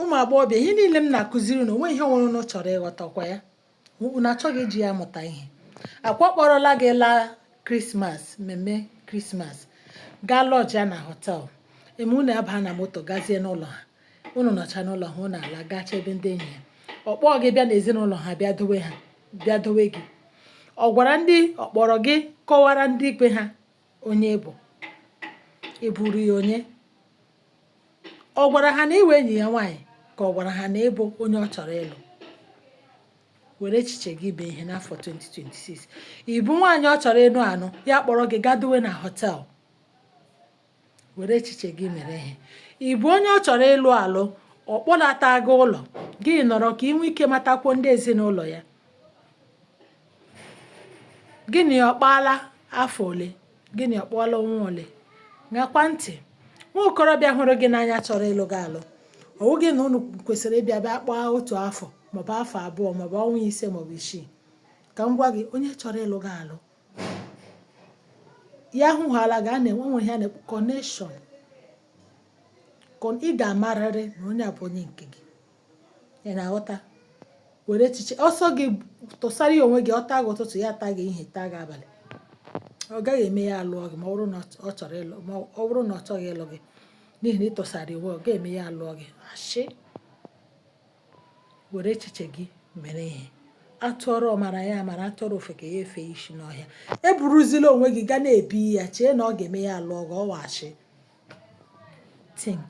Ụmụ agbọghọbịa, ihe niile m na-akụziri unu, o nweghị ihe ọ bụla unu chọrọ ịghọta, ọkwa ya? Unu achọghị iji ya amụta ihe. Akwa ọ kpọrọla gị laa Krismas, mmemme Krismas, gaa lọjịa na họtelụ. E mee unu abaa na moto gazie n'ụlọ ha. Unu nọcha n'ụlọ ha, unu ala gachaa ebe ndị enyi ya. Ọ kpọọ gị bịa n'ezinụlọ ha bịa dowe gị. Ọ gwara ndị ọ kpọrọ gị kọwara ndị ikwu ha. onye ị bụ ị bụrụ ya onye ọ gwara ha na ị wụ enyi ya nwaanyị ka ọ gwara ha na ị bụ onye ọ chọrọ ịlụ were echiche gị mee ihe n'afọ 2026 ị bụ nwaanyị ọ chọrọ ịnụ anụ ya kpọrọ gị gaa dowe na họtel were echiche gị mere ihe ị bụ onye ọ chọrọ ịlụ alụ ọ kpọlata gị ụlọ gị nọrọ ka ị nwee ike matakwu ndị ezinụlọ ya Gị na ya akpaala afọ ole? Gị na ya akpaala ọnwa ole? Ṅakwa ntị. Nwa okorobịa hụrụ gị n'anya chọrọ ịlụ gị alụ. Ọ wụghị na unu kwesịrị ịbịa bịa kpaa otu afọ maọbụ afọ abụọ maọbụ ọnwa ise maọbụ isii. Ka m gwa gị, onye chọrọ ịlụ gị alụ, ya hụhaala gị, a na-enwe o nwere ihe a na-akpọ connection. Ị ga-amarịrị na onye a bụ onye nke gị. ị na-aghọta were echiche ọ sọ gị tụsara ya onwe gị ọ taa gị ụtụtụ ya taa gị ehihie taa gị abalị ọ gaghị eme ya alụọ gị ma ọ bụrụ na ọ chọrọ ịlụ ma ọ bụrụ na ọ chọghị ịlụ gị n'ihi na ị tụsara onwe ọ ga-eme ya alụọ gị ashị were echiche gị mere ihe a tụọrọ ọmara ya amara a tụọrọ ofeke ya efe isi n'ọhịa eburuzila onwe gị gaa n'ebe ya chee na ọ ga-eme ya alụọ gị ọ wụ ashị think